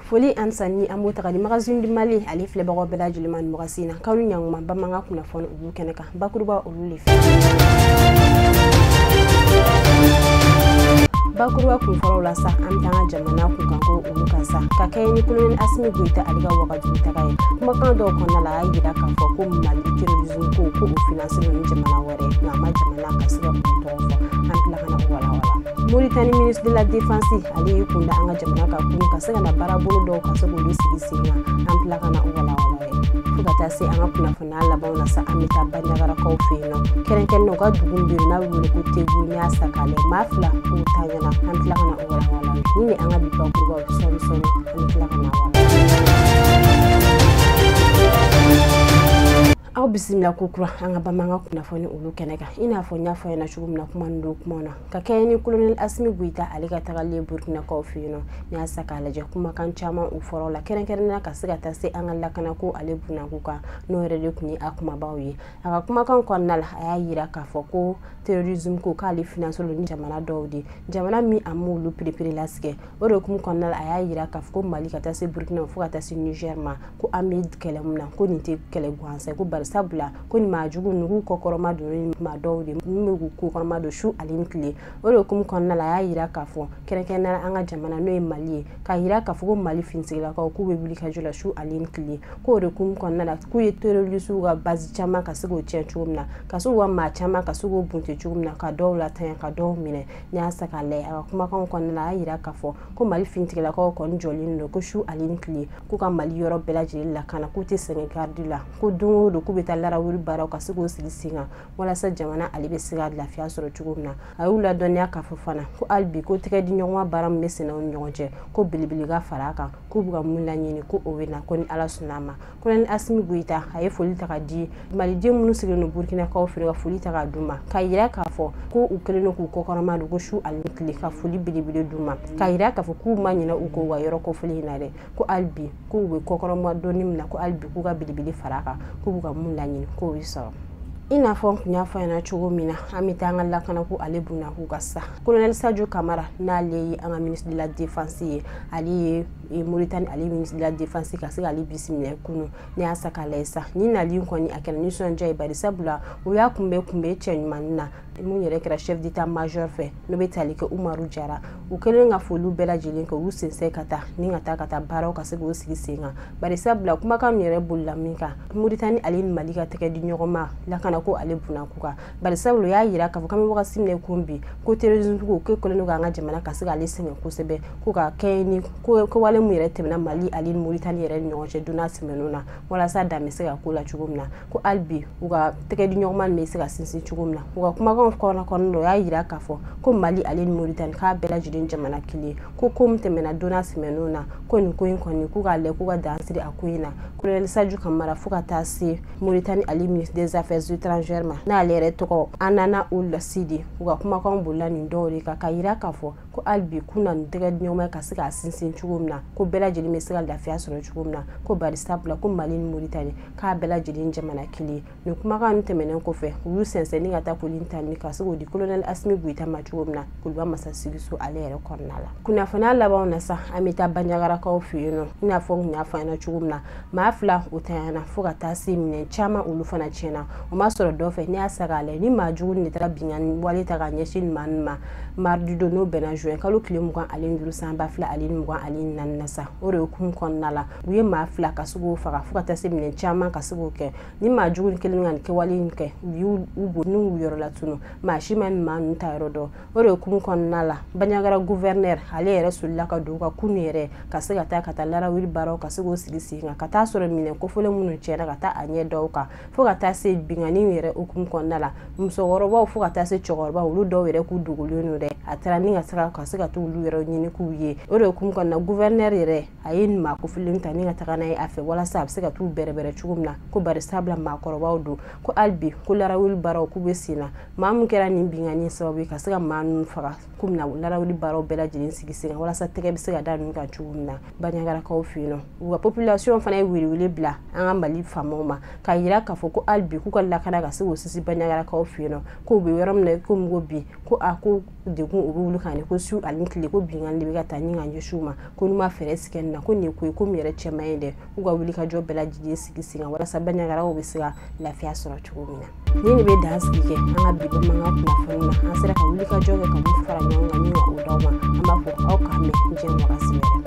foli an sanni an b'o ta ka di magazine du mali ale filɛbagaw bɛɛ lajɛlen ma nin wagati in na k'aw ni ɲanguma bamanan kunnafoni olu kɛnɛ kan bakuruba olu le fɛ bakuruba kun fɔlɔ la sa an bɛ taa an ka jamana kunkanko olu kan sa ka kɛɲɛ ni kolonɛli asimi goyita ale ka waga taga ye kumakan dɔw kɔnɔna la a y'a jira k'a fɔ ko mali terrorisme ko ko o finansilen ni jamana wɛrɛ nka a ma jamana ka se k'o tɔgɔ fɔ an tila ka na o walawala moritani ministre de la défense ale y'i kunda an ka jamana kan k'u ka se ka na baarabolo dɔw ka se k'olu sigi sen kan an tila ka na o walawala fo ka taa se an ka kunnafoni n'a labanw na sa an bɛ taa baɲagarakaw fɛ yen nɔ kɛrɛnkɛrɛnnen u ka dugu bɛ yen n'a bɛ wele ko tegu n'i y'a sa k'a lajɛ maa fila k'u tanyana an tila ka na o walawala nin ye an ka bi bakurubaw sɔɔni sɔɔni an bɛ tila ka na aw bisimila ko kura an ka bamanan kunnafoni olu kɛnɛ kan i n'a fɔ n y'a fɔ ɲɛna cogo min na kuma nin don kuma na ka kɛɲɛ ni kolonɛli asimi goyita ale ka tagalen burukinakaw fɛ yen nɔ n'i y'a sa k'a lajɛ kumakan caman u fɔra o la kɛrɛnkɛrɛnnenya ka se ka taa se an ka lakanako ale bunako kan n'o yɛrɛ de tun ye a kumabaw ye a ka kumakan kɔnɔna la a y'a yira k'a fɔ ko terrorisme ko k'ale finansilen ni jamana dɔw de jamana min a m'olu pereperelatigɛ o de kun kɔnɔna la a y'a yira k'a fɔ ko mali ka taa se burkina fo ka taa se niger ma ko an bɛ kɛlɛ min na ko nin tɛ kɛlɛ gansan ko bari sabula ko nin maa jugu ninnu kɔkɔrɔmadonni maa dɔw de min bɛ k'u kɔkɔrɔmadon su ale ni tile o de kun kɔnɔna la a y'a yira k'a fɔ kɛrɛnkɛrɛnnenya an ka jamana n'o ye mali ye k'a yira k'a fɔ ko mali finitigilakaw k'u bɛ wuli ka jɔ la su ale ni tile k'o de kun kɔnɔna la k'u ye terrorisiw ka base caman ka se k'o tiɲɛ cogo min na ka se k'u ka maa caman ka se k'o bunte cogo min na ka dɔw latanya ka dɔw minɛ n'i y'a sa k'a lajɛ a ka kumakanw kɔnɔna la a y'a yira k'a fɔ ko mali finitigilakaw kɔni jɔlen don ko su ale ni tile k'u ka mali yɔrɔ bɛɛ lajɛlen lakana k'u tɛ sɛgɛn garidi la ko don o don k'u bɛ taa larawuli baaraw ka se k'u sigi sen kan walasa jamana ale bɛ se ka lafiya sɔrɔ cogo min na a y'u ladɔnniya k'a fɔ fana ko hali bi ko tɛgɛdiɲɔgɔnma baara min bɛ senna u ni ɲɔgɔn cɛ ko belebele ka fara a kan k'u bɛ ka mun laɲini ko o bɛ na ko ni ala sɔnna a ma kolonɛli asimi goyita a ye foli ta ka di maliden minnu sigilen don burkinakaw fɛ ka foli ta ka d'u ma k'a yira k'a fɔ ko u kɛlen don k'u kɔkɔrɔmadon ko su ani tile ka foli belebele d'u ma k'a yira k'a fɔ k'u ma ɲinɛ u kɔ wa yɔrɔ ko foli in na dɛ ko hali bi k'u bɛ kɔkɔrɔmadonni min na ko hali bi k'u ka belebele fara a kan k'u bɛ ka mun laɲini k'o bɛ sɔrɔ i n'a fɔ n tun y'a fɔ ɲɛna cogo min na an bɛ taa an ka lakanako ale bunakun kan sa kolonɛli sajo kamara n'ale ye an ka ministre de la défense ye ale ye e moritani ale ministre de la défense ka se k'ale bisimila kunu ne y'a sa k'a lajɛ sa nin nali kɔni a kɛra nisɔndiya ye bari sabula u y'a kunbɛn kunbɛn cɛ ɲumanni na min yɛrɛ kɛra chef d'état major fɛ n'o bɛ tali kɛ umaru jara u kɛlen ka foliw bɛɛ lajɛlen kɛ u sɛnsɛn ka taa ni ka taa ka taa baaraw ka se k'o sigi sen kan bari sabula kumakan min yɛrɛ bolila min kan moritani ale ni mali ka tɛgɛ di ɲɔgɔn ma lakana ko ale bunako kan bari sabula y'a jira k'a fɔ k'an bɛ wagati min kun bi ko terrorisme ko kɛlen don k'an ka jamana ka se k'ale sɛgɛn kosɛbɛ ko ka kɛ ni kowale min yɛrɛ tɛmɛna mali ani moritani yɛrɛ ni ɲɔgɔn cɛ donna sɛmɛnw na walasa dan bɛ se ka k'o la cogo min na ko hali bi u ka tɛgɛ di ɲɔgɔnma bɛ se ka sinsin cogo min na u ka kumakanw kɔnɔ kɔnɔ dɔ y'a jira k'a fɔ ko mali ale ni moritani k'a bɛɛ lajɛlen jamana kelen ko ko min tɛmɛna donna sɛmɛnw na ko nin ko in kɔni k'u k'a lajɛ k'u ka dan sigi a ko in na kolonɛli sajo kamara fo ka taa se Mauritanie ali ministre des affaires étrangères ma n'ale yɛrɛ tɔgɔ Hanana Ould Sidi u ka kumakanw bolila nin dɔw de kan ka yira k'a fɔ ko hali bi k'u na nin tɛgɛ di ɲɔgɔn ma ka se k'a sinsin cogo min na ko bɛɛ lajɛlen bɛ se ka lafiya sɔrɔ cogo min na ko bari sabula ko mali ni moritani k'a bɛɛ lajɛlen jamana kelen nin kumakan nin tɛmɛnen kɔfɛ u y'u sɛnsɛnni ka taa koli tali ka se k'o di kolonɛli asimi goyita ma cogo min na kuluba masa sigiso ale yɛrɛ kɔnɔna la kunnafoni labanw na sa an bɛ taa banyagarakaw fɛ yen nɔ i n'a fɔ n kun y'a fɔ aw ɲɛna cogo min na maa fila o tanyana fo ka taa se minɛn caman olu fana tiɲɛna o ma sɔrɔ dɔ fɛ ne y'a sa k'a lajɛ ni maa jugu nin de taara binkanni wale ta ka ɲɛsin nin maa nin ma mardi don n'o bɛnna juin kalo tile mugan ale ni duuru san ba fila ale ni mugan ale ni naani na sa o de hukumu kɔnɔna la u ye maa fila ka se k'o faga fo ka taa se minɛn caman ka se k'o kɛ ni maa jugu nin kelen ka nin kɛwale in kɛ u y'u u bɔ nɔ yɔrɔ latunun maa si ma nin maa ninnu taa yɔrɔ dɔn o de hukumu kɔnɔna la banyagara guvɛrinɛr ale yɛrɛ solila ka don ka kunu yɛrɛ ka se ka taa ka taa larawuli baaraw ka se k'o sigi sen kan ka taa sɔrɔ minɛn kofɔlen minnu tiɲɛna ka taa a ɲɛ d'o kan fo ka taa se binkanniw yɛrɛ hukumu kɔnɔna la musokɔrɔbaw fo ka taa se cɛkɔrɔbaw olu dɔw yɛrɛ k'u dogolen don dɛ a taara ni ka sira ka se ka taa olu yɛrɛ ɲini k'u ye o de hukumu kɔnɔna guvɛrinɛr yɛrɛ a ye maa kofɔlen ta ni ka taga n'a ye a fɛ walasa a bɛ se ka t'u bɛrɛbɛrɛ cogo min na ko bari sabula maakɔrɔbaw don ko hali bi ko larawuli baaraw k'u bɛ sen na maa min kɛra nin binkanni sababu ye ka se ka maa ninnu faga k'o minɛ larawuli baaraw bɛɛ lajɛlen sigi sen kan walasa tɛgɛ bɛ se ka da ninnu kan cogo min na baɲagarakaw fɛ yen nɔ u ka population fana ye welewele bila an ka mali faamaw ma k'a yira k'a fɔ ko hali bi k'u ka lakana ka se k'o sinsin baɲagarakaw fɛ yen nɔ k'u bɛ yɔrɔ min na i komi ko bi ko a ko degun o bɛ olu kan yen ko su ani tile ko binkanni de bɛ ka taa ni ka ɲɛsin u ma ko n'u ma fɛɛrɛ sigi nin na ko nin ye ko ye ko min yɛrɛ cɛ man ɲi dɛ k'u ka wulikajɔ bɛɛ lajɛlen sigi sen kan walasa baɲagaraw bɛ se ka lafiya sɔrɔ cogo min na nin de bɛ dan sigi kɛ an ka bi bamanankan kunnafoni na an sera ka wulikajɔ kɛ ka min fara ɲɔgɔn kan ni ka o d'aw ma an b'a fɔ aw k'an bɛn diɲɛ wagati wɛrɛ